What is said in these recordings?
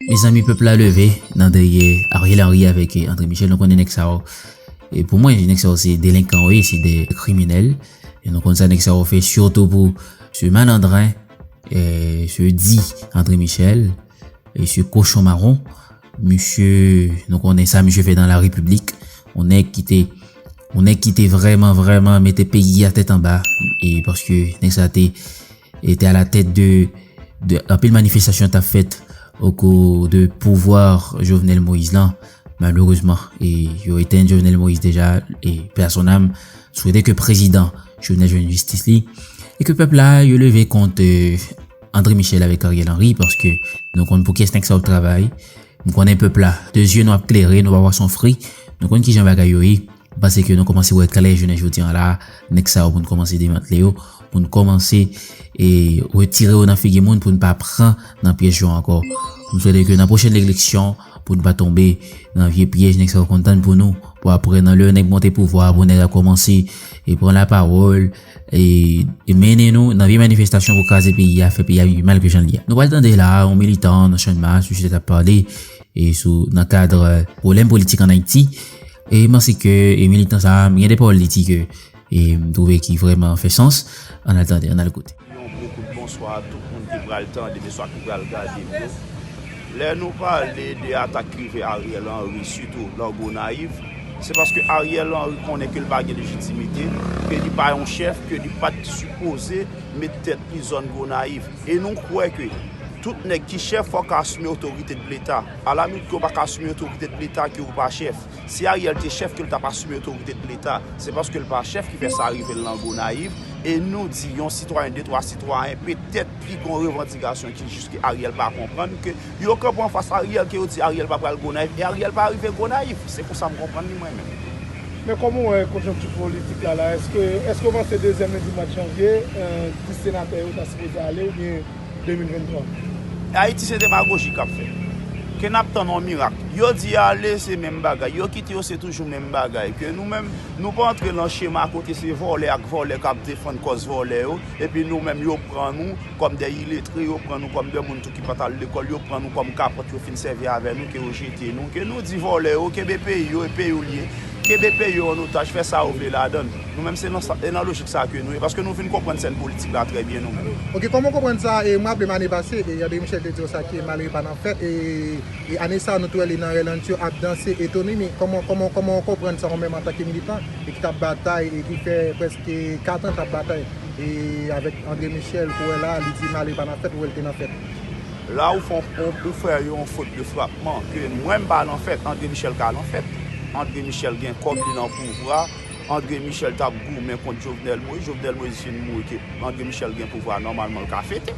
Mezanmi pèp la leve nan dèyè Ariel Henry avèk André Michel nou konnen nèg sa yo e pou mwen nèg sa yo se delenkan yo ye se de kriminèl e nou konn sa nèg sa yo fè sitou pou se malandren e se di André Michel e se kochon maron misye nou konnen sa misye fè nan la repiblik on nèg ki te on nèg ki te vrèman vrèman mete peyi a tèt anba e paske nèg sa te E te a la tèt de anpil manifestasyon ta fèt o kou de pouvwa Jovenel Moïse lan. Malerezman, e yo eten Jovenel Moïse deja e personam souwete ke prezidan Jovenel jwenn jistis li. E ke pèp la yo leve kont euh, André Michel avèk Ariel Henry paske nou konn pou kyes nèg sa yo travay. M konnen pèp la, de zye nou ap klere, nou pa pwa son fri, nou konn kijan bagay yo ye. M panse ke nou kòmanse wè klè jounen jodi an la a, nèg sa yo pou n kòmanse demantle yo, pou n kòmanse retire yo nan figi moun pou n pa pran nan pyèj yo ankò. M swete ke nan pwochen eleksyon pou n pa tonbe nan vye pyèj nèg sa yo konn tann pou nou, pou aprè nan lè yon nèg monte pouvwa a pou nèg la kòmanse pran lapawòl e mennen nou nan vye manifestasyon pou kraze peyi a, fè peyi a vin pi mal ke jan l ye a. Nou pral tande la a yon militan nan channmas misye t ap pale sou nan kad pwoblèm politik an Ayiti. E m panse ke e militan sa a, gen de pawòl li di ke e m twouve ki vrèman fè sans. An n al tande, an n al koute. Yon gwo kout bonswa a tout moun ki pral tande m oswa ki pral gade m yo. Lè nou pale de atak ki rive Ariel Henry sitou lan Gonayiv, se paske Ariel Henry konnen ke l pa gen lejitimite, ke li pa yon chèf, ke li pat sipoze met tèt li zòn Gonayiv. E nou kwè ke tout nèg ki chèf fòk asime otorite de leta. Ala nou diw paka asime otorite de leta ke ou pa chèf. Si Ariel te chèf kel tap asime otorite de leta. Se paskel pa chèf ki fè sa rivel lan Gonayiv e nou di yon sitwayen de twa sitwayen petèt ki gon revandikasyon ki jis ke Ariel pa konprann ke yo kanpe anfas Ariel ke yo di Ariel pa pral Gonayiv e Ariel pa rive Gonayiv. Se konsa m konprann li mwen menm. Men kòman ou wè konjonkti politik la la? Eske ou panse dezyèm lendi mwad janvye 10 senatè yo ta sipoze ale oubyen? 2023. Ayiti se demagoji kap fèt. Ke nap tann yon mirak. Yo di ale se menm bagay. Yo kite yo se toujou menm bagay. Ke nou menm nou pa antre lan chema kote se vòlè ak vòlè kap defann kòz vòlè yo. Epi nou menm yo pran nou kòm de iletre, yo pran nou kòm de moun tou ki pat al lekòl, yo pran nou kòm kapòt yo fin sèvi avè nou ke yo jete nou. Ke nou di vòlè yo kenbe peyi yo e peyi yo liye. Kenbe peyi yo an otaj fè sa yo vle ladann. Nou menm se nan sa, e nan lojik sa ke nou ye, paske nou vin konprann sèn politik la trè byen nou menm. Ok, kòman w konprann sa, e m raple m ane pase, e André Michel te di w sa ke malere pa nan fèt, e e ane sa nou te wè li nan Rèlantio ap danse e Tony ni, kòman, kòman, kòman w konprann sa ou menm antanke militan, e ki t ap batay, e ki fè prèske 4 an t ap batay, e avèk André Michel pou wè la a, li di malere pa nan fèt, ou wè l te nan fèt. La ou fon, ou, ou fè yon fot de frapman, ke mwen m pa nan fèt, André Michel ka nan fèt, André Michel gen kòb, li nan pouvwa. Andre Michel tap goumen kont Jovenel Moïse, Jovenel Moïse fin mouri ke Andre Michel gen pouvwa nòmalman l ka fete.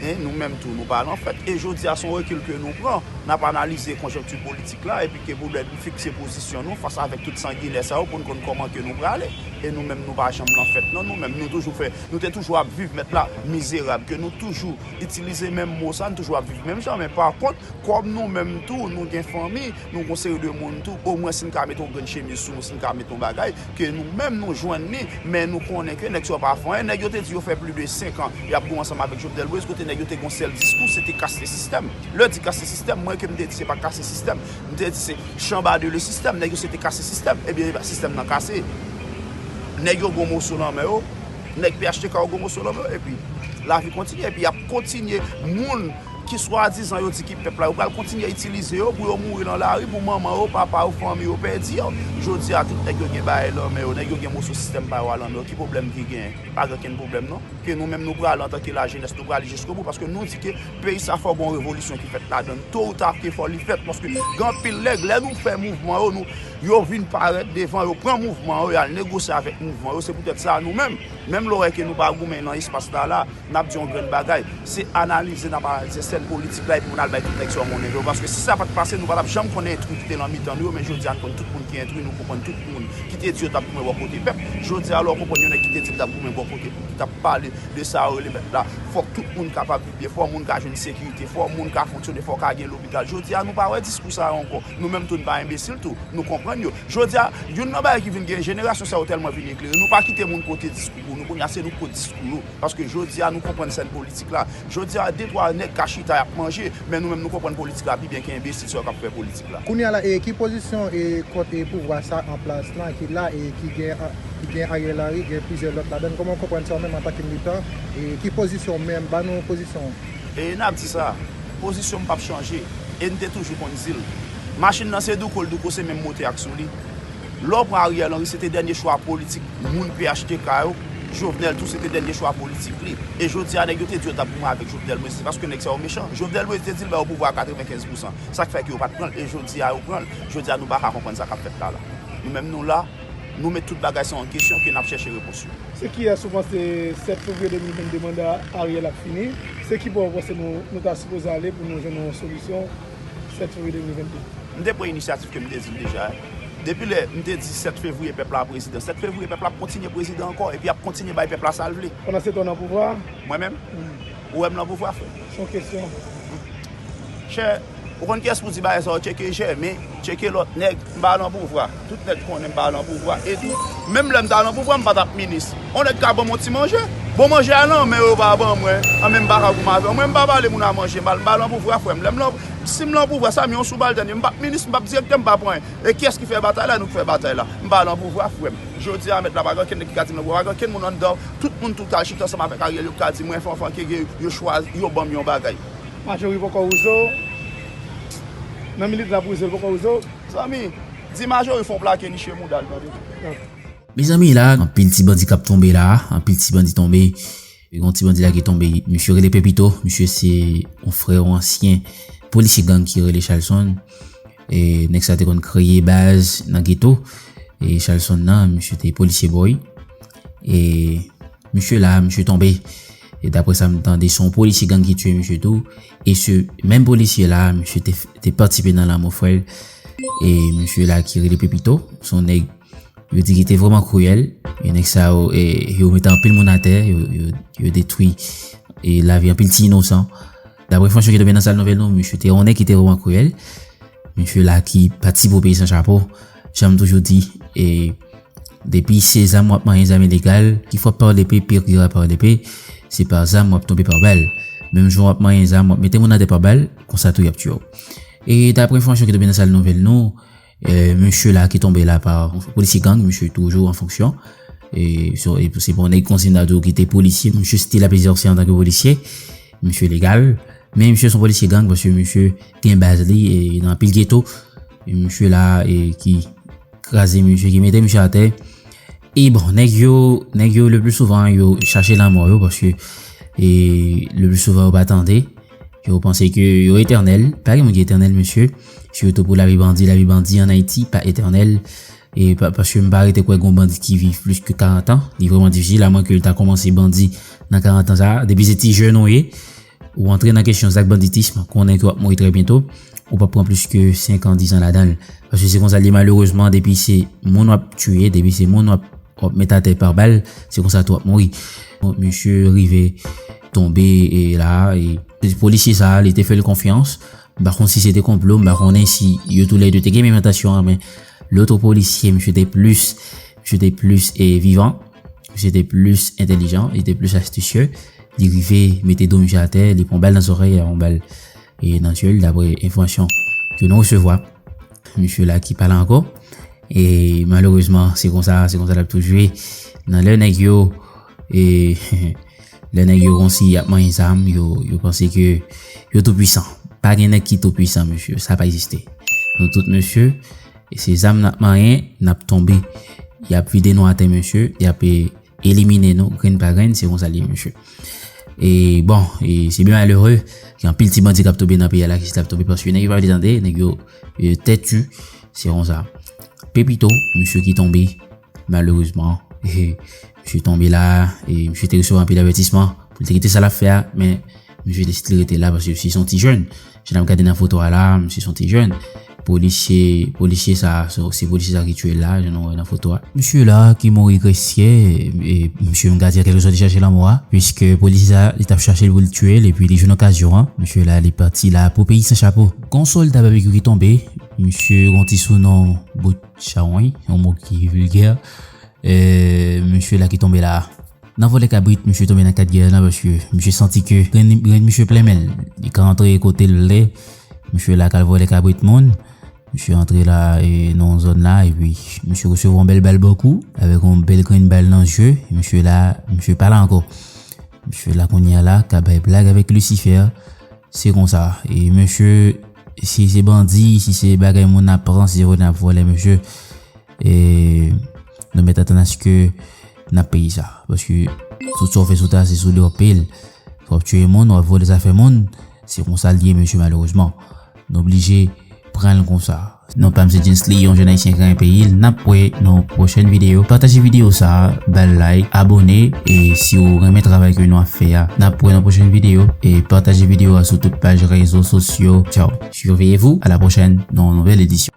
E nou menm tou nou pa lan fèt. E jodi a son rekil ke nou pran, nap analize konjonkti politik la epi ke pou lè nou fikse pozisyon nou fas avèk tout sanginè sa yo pou n konn kòman ke nou prale. E nou menm nou pa janm lan fèt non nou menm nou toujou fè, nou te toujou ap viv mèt la mizerab ke nou toujou itilize menm mo sa, nou toujou ap viv menm jan men pa kont kòm nou menm tou nou gen fanmi, Nou gon seri de moun tou, o mwen si n ka mete yon grenn chemiz sou nou, si n ka mete yon bagay, ke nou menm nou jwenn li, men nou konnen ke nèg sa yo pa fè anyen. Nèg yo te di yo fè pli de 5 an y ap gou ansanm avèk Jovenel Moïse, kote nèg yo te gon sèl diskou, se te kase sistèm. Lè di kase sistèm, mwen ke m te di se pa kase sistèm, m te di se chanba de le sistèm, nèg yo se te kase sistèm. Ebyen e ba sistèm nan kase. Nèg yo gon moso nan men yo, nèg phtk yo gon moso nan men yo, epi lavi kontinye, epi y ap kontinye moun Ki swadizan yo di ki pèp la, yo pral kontinye itilize yo pou yo mouri lan lari pou manman yo, papa yo, fanmi yo pèdi yo. Jodi a tout nèg yo gen bagay lan men yo, nèg yo gen moso sistèm pa yo a lan men yo, ki pwoblèm ki genyen? Pa gen okenn pwoblèm non. Ke nou menm nou prale antanke lajenès nou prale jiskobou paske nou di ke peyi sa fò gen yon revolisyon ki fèt ladan l. To ou ta ke fò li fèt paske gen anpil nèg lè nou fè mouvman yo nou, yo vin parèt devan, yo pran mouvman yo, y al negosye avèk mouvman yo. Se poutèt sa nou menm, menm lè w wè ke nou pa goumen lan espas la la, N ap di yon grenn bagay, se analize n ap analize sèn politik la epi pou n al bay tout nèg sa yo monnen yo. Paske si sa pa t pase, nou pa t ap janm konnen entri ki te lan mitan nou yo, men jodi a n konn tout moun ki entri, nou konprann tout moun ki te di yo t ap goumen bò kote pèp. Jodi a lè w konprann yon nèg ki te di l t ap goumen bò kote pèp, ki t ap pale de sa yo rele pèp la, fòk tout moun kapab viv byen, fò moun ka jwenn sekirite, fò moun ka fonksyone, fò ka gen lopital. Jodi a nou pa wè diskou sa yo ankò. Nou menm tou n pa enbesil tou, nou konprann yo. Jodi a, youn nan bagay ki vin gen, jenerasyon sa yo tèlman vin eklere, nou pa kite moun pote diskou. Pou nou kounye a se nou ki pran diskou yo. Paske jodi a nou konprann sèn politik la. Jodi a de twa nèg ka chita y ap manje, men nou menm nou konprann politik la pi byen ke enbesil sa yo k ap fè politik la. Kounye a la e ki pozisyon e kont e pouvwa sa an plas lan ki la e ki gen ki gen Ariel Henry gen plizyè lòt ladann kòman ou konprann sa ou menm antan ke militan e ki pozisyon ou menm ban nou pozisyon ou? E n ap di sa, pozisyon m p ap chanje e n te toujou konn di l. Machin nan se douko l douko se menm motè ak sou li. Lò pran Ariel Henry se te dènye chwa politik moun phtk yo, Jovenel tou se te dènye chwa politik li. E jodi a nèg yo te di yo tap goumen avèk Jovenel Moise se paske nèg sa yo mechan. Jovenel Moise te di l ba yo pouvwa a 95 pousan. Sak fè ke yo pat pran l e jodi a yo pran l. Jodi a nou paka konprann sa kap fèt la la. Nou menm nou la, nou met tout bagay sa an kesyon ke nap chèche repons yo. Se kiyès ou panse 7 fevriye 2022 manda Ariel ap fini? Se ki bò ou panse nou ta sipoze ale pou nou jwenn yon solisyon? 7 fevriye 2022. M te pran inisyatif ke m te di l deja a. Depi lè m te di 7 fevriye pèp la prezidan, 7 fevriye pèp la ap kontinye prezidan ankò epi ap kontinye bay pèp la sa l vle. Pandan setan w nan pouvwa a? Mwen menm? Ou wè m nan pouvwa frè m? Se yon kesyon. Chè, ou konn kiyès pou w di bagay sa yo, tcheke Jèmen, tcheke lòt nèg, m pa nan pouvwa. Tout nèg konnen m pa lan pouvwa e tou menm lè m ta lan pouvwa m pa tap minis. On nèg ka banm on ti manje, bon manje a lan men yo pa ban mwen, an men m pa ka goumen avè w. Mwen m pa pale moun a manje mal, m pa lan pouvwa frè m. Lè m lan, si m lan pouvwa sa m yon soubaltèn e m pap minis, m pap direktè, m pap anyen. E kiyès ki fè batay la, nou ki fè batay la. M pa lan pouvwa frè m. Jodi a mèt la pa gen okenn nèg ki ka di m lan pouvwa, pa gen okenn moun anndan tout moun tou ka chita ansanm avèk Ariel yo ki ka di mwen Fanfan Keke yo chwazi, yo banm yon bagay. Majori poko wouze w, nan minit lap wouze l poko wouze w. Zanmi, di Marjorie fon plake niche moudal tande. Mezanmi la anpil ti bandi kap tonbe la anpil ti bandi tonbe gon ti bandi la ki tonbe misye rele pepito misye se yon frè yon ansyen polisye gang ki rele chalson e nèg sa te konn kreye baz nan geto e chalson nan misye te polisye boy e misye la misye tonbe e dapre sa m tande son polisye gang ki tue misye tou E se menm polisye la, misye te patisipe nan lanmò frè l. E misye la ki rele Pepito, se yon nèg yo di ki te vrèman kriyèl. E nèg sa yo, yo mete anpil moun atè, yo detwi lavi anpil ti inosan. Daprè enfòmasyon ki tonbe nan sal nouvèl nou, misye te yon nèg ki te vrèman kriyèl. Misye la ki patisipe operasyon Chapo. Jan m toujou di, e depi se zam wap manyen zam ilegal, ki fwa par lepe perira par lepe, se par zam wap tonbe par bal. Menm jan wap manyen zam wap mete moun atè par bal, konsa tou yap tye w. E dapre enfòmasyon ki tonbe nan sal nouvèl nou, mesye la ki tonbe la par polisye gang, mesye toujou an fonksyon, e se bon nèg konsiy nan tou ki te polisye, mesye still ap egzòse antanke polisye, mesye legal, men mesye son polisye gang paske mesye. Gen baz li e nan anpil geto. E misye la e ki kraze misye, ki mete misye atè. E bon, nèg yo, nèg yo le plus souvent yo chache lanmò yo paske e le plus souvent yo pa tande. Yo panse ke yo etènèl. Pa gen moun ki etènèl mesye. Sitou pou lavi bandi, lavi bandi an Ayiti pa etènèl. E paske m pa rete kwè gon bandi ki viv plis ke 40 an. Li vreman difisil a mwen ke l ta koumanse bandi nan 40 an sa a. Depi se ti jèn ou ye. Ou antre nan kesyon zak banditism, konnen ke w ap mouri trè byento, ou p ap pran plis ke 5 an, 10 an ladan l. Paske se konsa l ye malerezman, depi se moun w ap tiye, depi se moun w ap met atè pa bal, se konsa tou w ap mouri. Misye rive tonbe la a, e polisye sa a li te fè l konfyans, m pa konn si se te konplo, m pa konnen si yo tou lè de te gen menm entansyon an, men lotre polisye misye te plis, misye te plis vivan. Misye te plis entelijan, li te plis astisye. Li rive mete do misye atè, li pran bal nan zòrèy, li pran bal e nan je l dapre enfòmasyon ke nou resevwa. Misye la ki pa la ankò. E malerezman, se kon sa, se kon sa l ap toujou ye. Nan lè nèg yo, e lè nèg yo konsi ap manyen zam, yo panse ke yo tou pwisan. Pa gen nèg ki tou pwisan, mesye. Sa pa egziste. Nou tout mesye. E se zam nap manyen nap tonbe. Yap vide nou atè mesye, yap elimine nou grenn pa grenn se konsa li ye mesye. E bon, e se byen malere, gen anpil ti bandi kap tobe nan peyi a la ki chita ap tobe paske nèg yo pa vle tande, nèg yo tètu se konsa. Pepito, mesye ki tonbe. Malerezman, misye tonbe la e misye te resevwa anpil avètisman pou l te kite sa l ap fè a. Men, misye deside li rete la paske misye se yon ti jèn. Jan n ap gade nan foto a la, misye se yon ti jèn. Polisye, polisye sa a, se polisye sa a ki tiye l la, jan nou wè nan foto a. Misye la a ki mouri grèsyè, misye menm ka di an kèlke sòt li chache lanmò a, piske polisye sa a, li t ap chache l pou l tiye l epi li jwenn okazyon an. Misye la a, li pati la pou peyi san chapo. Gon sòlda babekyu ki tonbe, misye gon ti sounon Bout. Chawony, yon mo ki vilgè. Eee, mesye la ki tonbe la a. Nan vòlè kabrit, mesye tonbe nan 4 gè la paske mesye santi ke grenn grenn mesye plen men l. Li ka antre kote l vle. Mesye la ka al vòlè kabrit moun. Mesye antre la a e nan yon zòn la a epi mesye resevwa yon bèl bal bò kou avèk yon bèl grenn bal nan je. Mesye la a, mesye pa la ankò. Mesye la kounye a la ka bay blag avèk lisifè. Se konsa e mesye si se bandi si se bagay moun ap pran si se vòlè nap vòlè mesye e nou mèt atann aske nap peye sa paske tout sa ou fè sou tè a se sou li wap peye l wap tiye moun wap vòlè zafè moun se konsa l ye mesye malerezman nou blije pran l konsa. Non pam se Djensly yon jèn ayisyen ki renmen peyi l nap wè nan yon pwochèn video pataje video sa bal like abone e si ou renmen travay ke nou ap fè a nap wè nan pwochèn video e pataje video a sou tout paj rezo sosyo tchaww. Surveillez vous à la prochaine nan yon nouvèl edisyon.